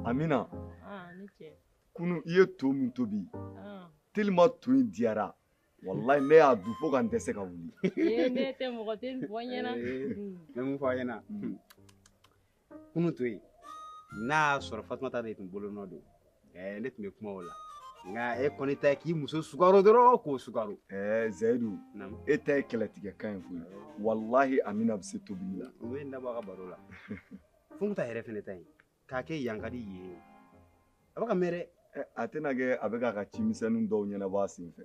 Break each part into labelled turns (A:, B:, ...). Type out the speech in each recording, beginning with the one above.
A: Amina
B: kunun i ye
A: to min tobi tellement to in diyara walayi ne y'a dun fo ka n dɛsɛ ka wuli ne tɛ mɔgɔ
B: tɛ fɔ ɲɛna ne bɛ mun fɔ
C: a ɲɛna kunun to in n'a y'a sɔrɔ fatumata de tun bolonɔ don ne tun bɛ kuma o la nka e kɔni ta ye k'i muso sukaro dɔrɔn k'o sukaro zayidu
A: e ta ye kɛlɛtigɛkan ye koyi walahi amina bɛ se tobili la o ye n dabɔ a ka baro
C: la fanta yɛrɛ fɛnɛ ta ye k'a kɛ yankadi ye a bɛ ka mɛn dɛ a tɛna kɛ a bɛ k'a ka
A: cimisɛnnin dɔw ɲɛnabɔ a senfɛ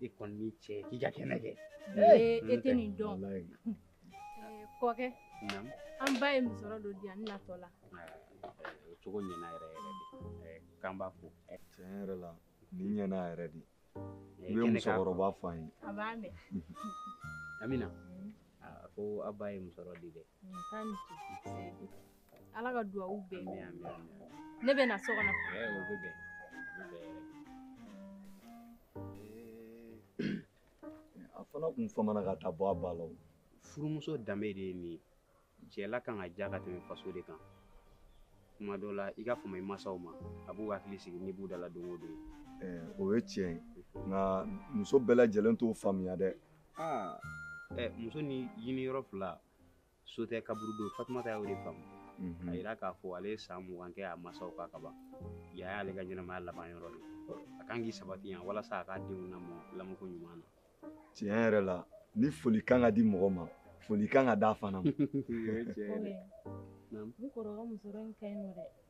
C: e kɔni ni ce k'i ka kɛnɛ kɛ e tɛ
B: nin dɔn kɔkɛ an ba ye musɔrɔ dɔ di yan n natɔ la o cogo
C: ɲɛna yɛrɛ yɛrɛ de k'an b'a fo tiɲɛ yɛrɛ
A: la nin ɲɛna yɛrɛ de i bɛ musokɔrɔba fo an ye a b'a
B: mɛn amina
C: a ko a ba ye musɔrɔ di dɛ
B: ala ka dugawu minɛ ne bɛ na so
A: kɔnɔ a fana kun famana ka taa bɔ a ba la
C: furumuso danbe de ye nin ye cɛla kan ka diya ka tɛmɛ faso de kan kuma dɔ la i ka fama i masaw ma a b'u hakili sigi n'i b'u dala don o don o ye tiɲɛ
A: ye nka muso bɛɛ lajɛlen t'o faamuya dɛ
C: aa ɛ muso ni ɲini yɔrɔ fila so tɛ kaburu don fatumata y'o de faamu a yira k'a fɔ ale ye san mugan kɛ a masaw kan kaban yan y'ale ka ɲɛnamaya laban yɔrɔ de a kan k'i sabati yan walasa a k'a denw lamɔ lamɔko ɲuman na tiɲɛ yɛrɛ
A: la ni foli kan ka di mɔgɔ ma foli kan ka d'a fana ma
B: ne kɔrɔkɛ musɔrɔ in ka ɲi nɔ dɛ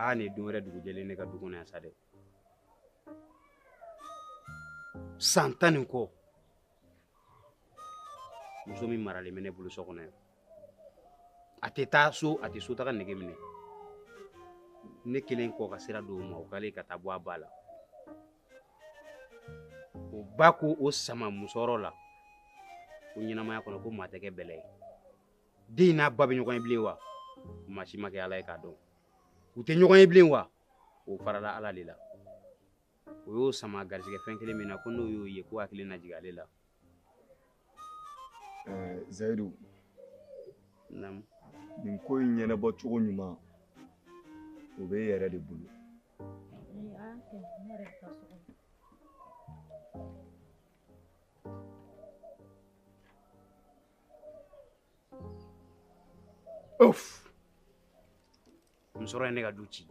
C: aa nin ye don wɛrɛ dugujɛlen ne ka du kɔnɔ yan sa dɛ san tan ni kɔ muso min maralen bɛ ne bolo so kɔnɔ yan a tɛ taa so a tɛ so taga nege minɛ ne kɛlen kɔ ka sira d'o ma o k'ale ka taa bɔ a ba la o ba ko o sama musɔrɔ la ko ɲɛnamaya kɔnɔ ko maa tɛ kɛ bɛlɛ ye den n'a ba bɛ ɲɔgɔn ye bilen wa maa si ma kɛ ala ye k'a dɔn u tɛ ɲɔgɔn ye bilen wa o farala ala de la o y'o sama garisigɛ fɛn kelen min na ko n'o y'o ye k'o hakili na jigin ale la
A: eh,
C: zayidu naamu
A: nin ko in ɲɛnabɔ cogo ɲuman o bɛ e yɛrɛ de bolo
C: Ouf. musɔrɔ ye ne ka du ci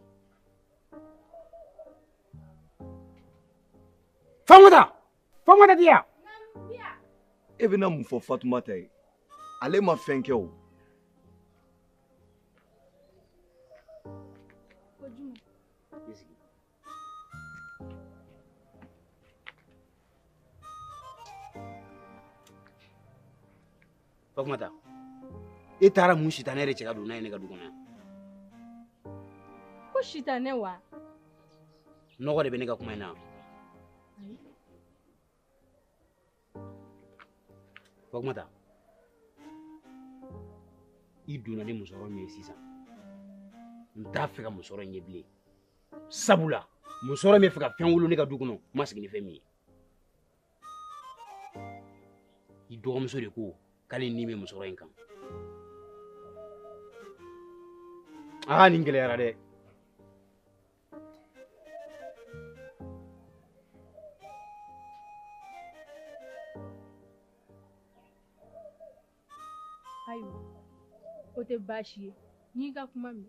C: fatumata Fatumata di
A: yan e bɛna mun fɔ fatumata ye ale ma fɛn kɛ o
C: fatumata e taara mun sitanɛ de cɛ ka don n'a ye ne ka du kɔnɔ
B: yan ko sitanɛ
C: wa nɔgɔ de bɛ ne ka kuma in na fatumata i donna ni musɔrɔ min ye sisan n t'a fɛ ka musɔrɔ in ye bilen sabula musɔrɔ min bɛ fɛ ka fɛn wolo ne ka du kɔnɔ n ma sigi ni fɛn min ye i dɔgɔmuso de ko k'ale ni bɛ musɔrɔ in kan aa nin gɛlɛyara dɛ
B: ayiwa o tɛ baasi ye n'i ka kuma min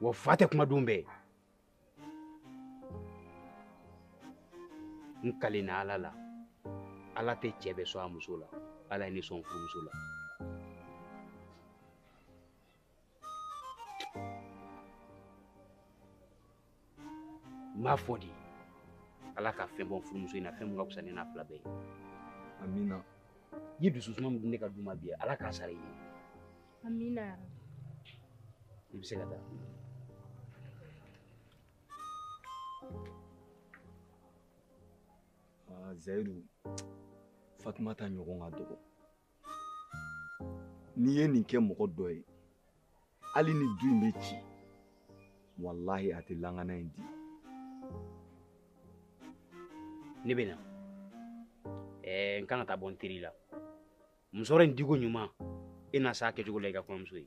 C: wa fa tɛ kuma don bɛɛ n kalenna ala la ala tɛ cɛ bɛɛ sɔn a muso la ala ye ne sɔn furumuso la n b'a fɔ de ala ka fɛn bɔ furumuso in na fɛn min ka fisa ne n'a fila bɛɛ ye amina i ye dusu suma min di ne ka du ma bi ala k'a sara i ye amina i bɛ se ka taa
A: zayidu fatumata ɲɔgɔn ka dɔgɔ n'i ye nin kɛ mɔgɔ dɔ ye hali ni du in bɛ ci walahi a tɛ lankana in di
C: ne bɛ na ɛɛ n kan ka taa bɔ n teri la musɔrɔ in diko ɲuman e na s'a kɛcogo la i ka kɔɲɔmuso ye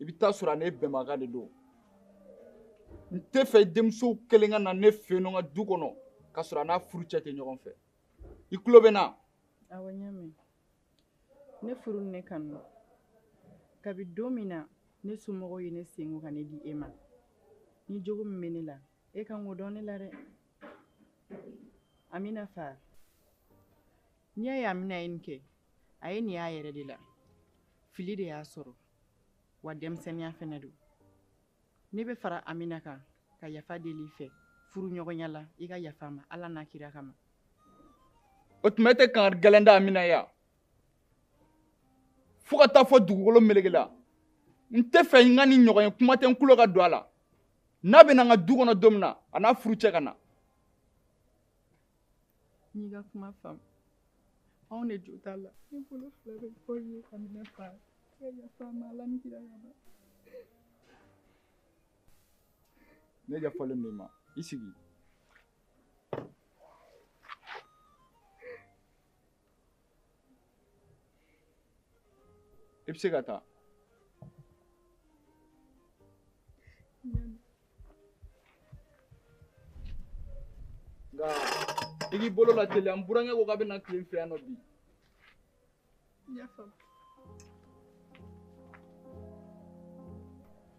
A: i bɛ taa sɔrɔ a n'e bɛnbaga de don n tɛ fɛ denmuso kelen ka na ne fɛ yen nɔ n ka du kɔnɔ k'a sɔrɔ a n'a furucɛ tɛ ɲɔgɔn fɛ i tulo bɛ n na. awɔ n y'a mɛn
D: ne furu ni ne kanu kabi don min na ne somɔgɔw ye ne sen ko ka ne di e ma ni jogo min bɛ ne la e kan k'o dɔn ne la dɛ amina fa n'i y'a ye amina ye nin kɛ a ye nin y'a yɛrɛ de la fili de y'a sɔrɔ. wa denmisɛnniya fɛnɛ don ne bɛ fara amina kan ka yafa deli i fɛ furuɲɔgɔnya la i ka yafa a ma ala n'a kira kama
A: o tuma e tɛ kan gɛlɛn da amina ya fo ka taa fo dugukolo meleke la n tɛ fɛ n ka nin ɲɔgɔn ye kuma tɛ n tulo ka don a la n'a bɛ na n ka du kɔnɔ don min na a n'a furucɛ ka na
D: n y'i ka kuma faamu anw de jo t'a la ne bolo fila bɛ kɔ ye amina fa ka yafa a ma ala ni kira kama
A: ne yafalen don i ma i sigi i bɛ se ka taa nka i k'i bolo lateliya n burankɛ ko k'a bɛna tile n fɛ yan nɔ bi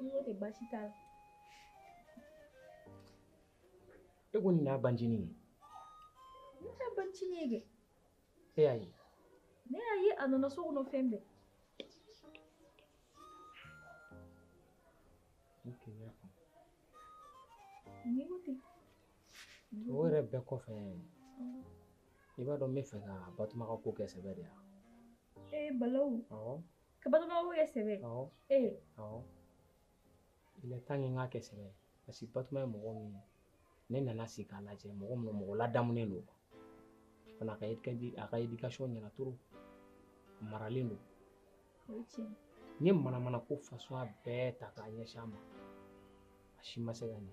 B: N ko ten baasi t'a
E: la. E ko nin y'a
B: bancinin ye? N t'a bancinin ye kɛ. E y'a ye?
E: Ne y'a ye
B: a nana so kɔnɔ fɛn bɛɛ.
E: Ok n y'a
B: faamu. N'i ko ten.
E: O yɛrɛ bɛɛ kɔfɛ. I b'a dɔn n bɛ fɛ ka Batuma ka ko kɛ sɛbɛ de ye wa? Ee Balawu. Awɔ.
B: ka
E: batuma ko
B: kɛ sɛbɛ
E: ee il est temps que n k'a kɛ sɛbɛ ye parce que batuma ye mɔgɔ min ye ne nana sigi k'a lajɛ mɔgɔ min mɔgɔ ladamunen don fana a ka a ka éducation ɲɛna trop a maralen
B: don n ye manamana
E: ko façon bɛɛ ta k'a ɲɛsin a ma a si ma se ka ɲɛ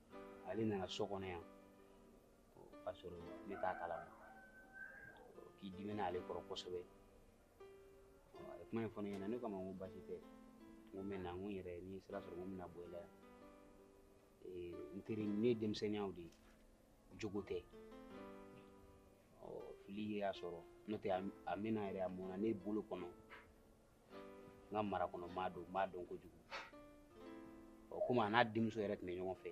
C: ale nana so kɔnɔ yan k'a sɔrɔ ne t'a kalama k'i dimina ale kɔrɔ kosɛbɛ a ye kuma in fɔ ne ɲɛna ne kama ko baasi tɛ n ko mɛ na n ko n yɛrɛ ni sira sɔrɔ ko n bɛna bɔ i la yan n teri nin ye denmisɛnniya de ye jogo tɛ fili y'a sɔrɔ n'o tɛ a mɛnna yɛrɛ a mɔna ne bolo kɔnɔ n ka mara kɔnɔ maa don n b'a dɔn kojugu ɔ komi a n'a denmuso yɛrɛ tun bɛ ɲɔgɔn fɛ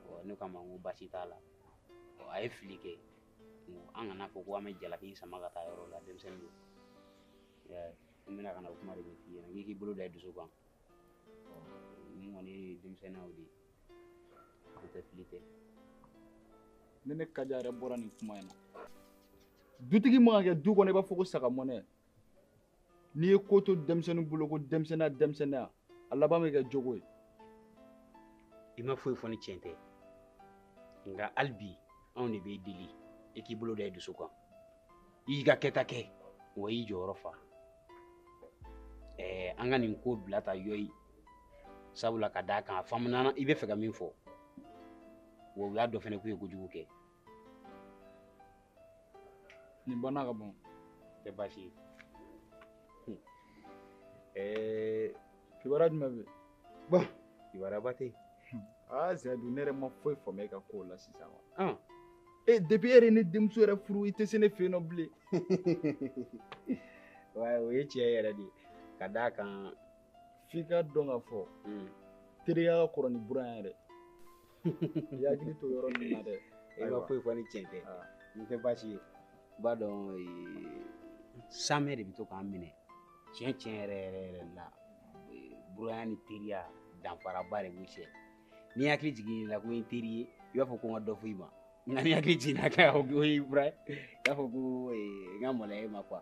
C: ɔ ne k'a ma n ko baasi t'a la ɔ a ye fili kɛ n ko an kan'a fɔ ko an bɛ jalaki in sama ka taa yɔrɔ la denmisɛnnin don I y'a ye? n bɛna ka na o kuma de ɲɛf'i ɲɛna n k'i k'i bolo da i dusu kan ɔ nin kɔni ye denmisɛnninya o de ye o tɛ fili tɛ
A: ne ne kaja yɛrɛ bɔra nin kuma in na dutigi man ka kɛ du kɔnɔ i b'a fɔ ko saga mɔnɛ n'i ye ko to denmisɛnnin bolo ko denmisɛnninya denmisɛnninya a laban bɛ kɛ jogo
C: ye i ma foyi fɔ ni tiɲɛ tɛ nka hali bi anw de b'i deli i k'i bolo da i dusu kan i y'i ka kɛta kɛ wa i y'i jɔyɔrɔ fa ɛɛ an ka nin ko bila ta yɔyi sabula ka d'a kan a faamuna i bɛ fɛ ka min fɔ wa u y'a dɔn fɛnɛ k'u ye kojugu kɛ
A: nin banna ka ban tɛ
C: baasi ye ɛɛ kibaruya
A: jumɛn bɛ yen bon
C: kibaruya tɛ yen aa zɛdu
A: ne yɛrɛ ma foyi faamu e ka kow la sisan wa e depuis
C: e yɛrɛ ye ne denmuso
A: yɛrɛ furu i tɛ se ne fɛ yen nɔ
C: bilen wa o ye tiɲɛ yɛrɛ de ye ka d'a kan f'i k'a
A: dɔn k'a fɔ teriya ka kɔrɔ ni buran yɛrɛ i hakili to yɔrɔ ninnu na dɛ i ma foyi fɔ ni
C: tiɲɛ tɛ nin tɛ baasi ye i b'a dɔn saamɛ de bɛ to k'an minɛ tiɲɛ tiɲɛ yɛrɛ yɛrɛ yɛrɛ la buranya ni teriya danfaraba de b'u cɛ n'i hakili jiginna ko n teri ye i b'a fɔ ko n ka dɔ fɔ i ma nka n'i hakili jiginna ko o ye buran ye i b'a fɔ ko n ka maloya e ma quoi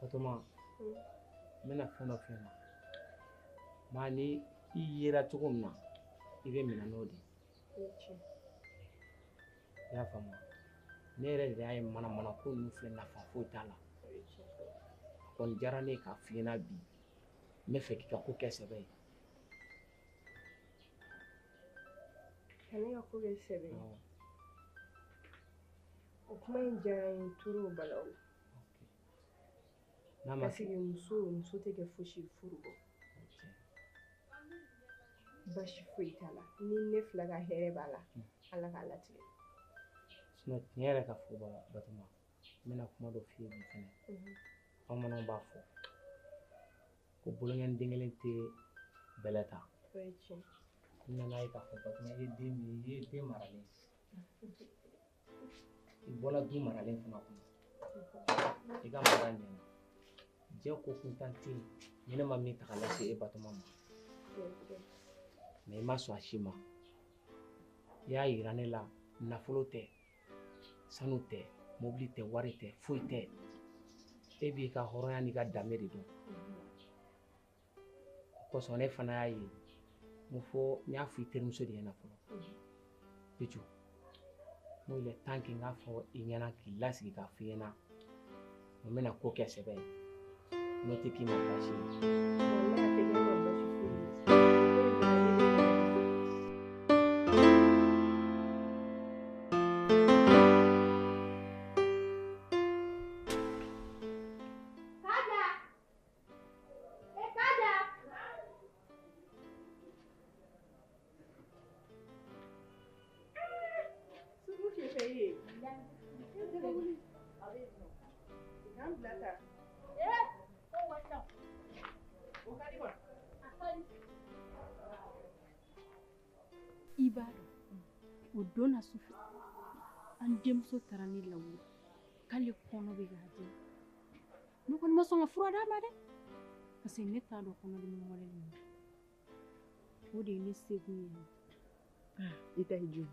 E: Batoma n bɛna fɛn dɔ f'i ɲɛna maa ni i yera cogo min na i bɛ minɛ n'o de ye i y'a faamu ne yɛrɛ de y'a ye manamana ko ninnu filɛ nafa foyi t'a la
D: a kɔni
E: diyara ne ye k'a f'i ɲɛna bi n bɛ fɛ k'i ka ko kɛ sɛbɛ
D: ye ka ne ka ko kɛ sɛbɛ ye o kuma in diyara n ye trop balawu
E: N'a ma parce que muso muso
D: tɛ kɛ fosi ye furu kɔ baasi foyi t'a la ni ne fila ka hɛrɛ b'a la hmm. ala k'a latigɛ
E: tiɲɛ yɛrɛ ka fɔ batoma n bɛna kuma dɔ f'i ye bi fɛnɛ mhm. bamananw b'a fɔ ko bolonkɔni den kelen tɛ bɛlɛ ta
D: n nan'a ye k'a
E: fɔ batoma i ye den min i ye den maralen i bɔra du maralen fana kɔnɔ i ka mara ɲɛna diɲɛ ko kuntan tɛ yen ni ne ma min ta ka lase e batoma ma mais i ma sɔn a si ma i y'a yira ne la nafolo tɛ sanu tɛ mobili tɛ wari tɛ foyi tɛ e b'i ka hɔrɔnya n'i ka danbe de dɔn o kosɔn ne fana y'a ye n fɔ n y'a fɔ i terimuso de ɲɛna fɔlɔ pitu n ko il est temps que n k'a fɔ i ɲɛna k'i lasigi k'a f'i ɲɛna n bɛna ko kɛ sɛbɛ ye n'o tɛ k'i ma baasi ye.
B: don na su fɛ an denmuso taara ne lawuli k'ale kɔnɔ bɛ k'a dimi Ne kɔni ma sɔn ka fura d'a ma dɛ parce que ne t'a dɔn kɔnɔdimi wɛrɛ de don o de ye ne sekun ye ah, i ta ye jo
D: ye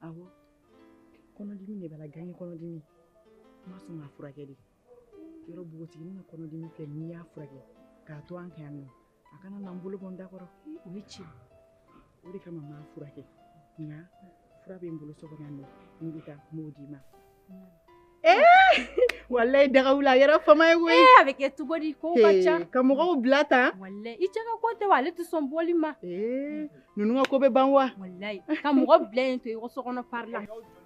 D: awɔ kɔnɔdimi de b'a la gange kɔnɔdimi n ma sɔn k'a furakɛ dɛ yɔrɔ npogotiginin ka kɔnɔdimi filɛ n'i y'a furakɛ k'a to an kan yan nɔ a kana na n bolo bɔ n da kɔrɔ o ye
B: tiɲɛ o de
D: kama n m'a furakɛ nka fura bɛ n bolo so kɔnɔ yan n'i bɛ taa n b'o d'i ma walayi daga wuli a kɛra fama ye koyi a bɛ kɛ cogo di
B: kow ka ca ka mɔgɔw bila
D: tan walayi i cɛ ka ko
B: tɛ wa ale tɛ sɔn bɔli ma ninnu ka
D: ko bɛ ban wa walayi ka mɔgɔ
B: bila yen to i ko so kɔnɔ pari la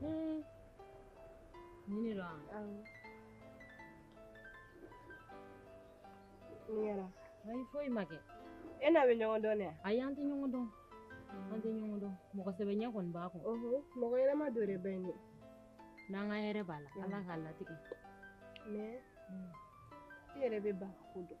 B: Hmm. Nin de don wa? Awɔ. Mun kɛra? Ayi foyi ma kɛ. E n'a bɛ ɲɔgɔn dɔn de wa? Ayi an tɛ ɲɔgɔn dɔn. An tɛ ɲɔgɔn dɔn. Mɔgɔ sɛbɛ ɲɛ kɔni b'a kun. Ɔhɔn, mɔgɔ ɲɛnama dɔ de bɛ yen dɛ. N'an ka hɛrɛ b'a la, Ala k'a latigɛ. Mais i yɛrɛ bɛ ba ko dɔn.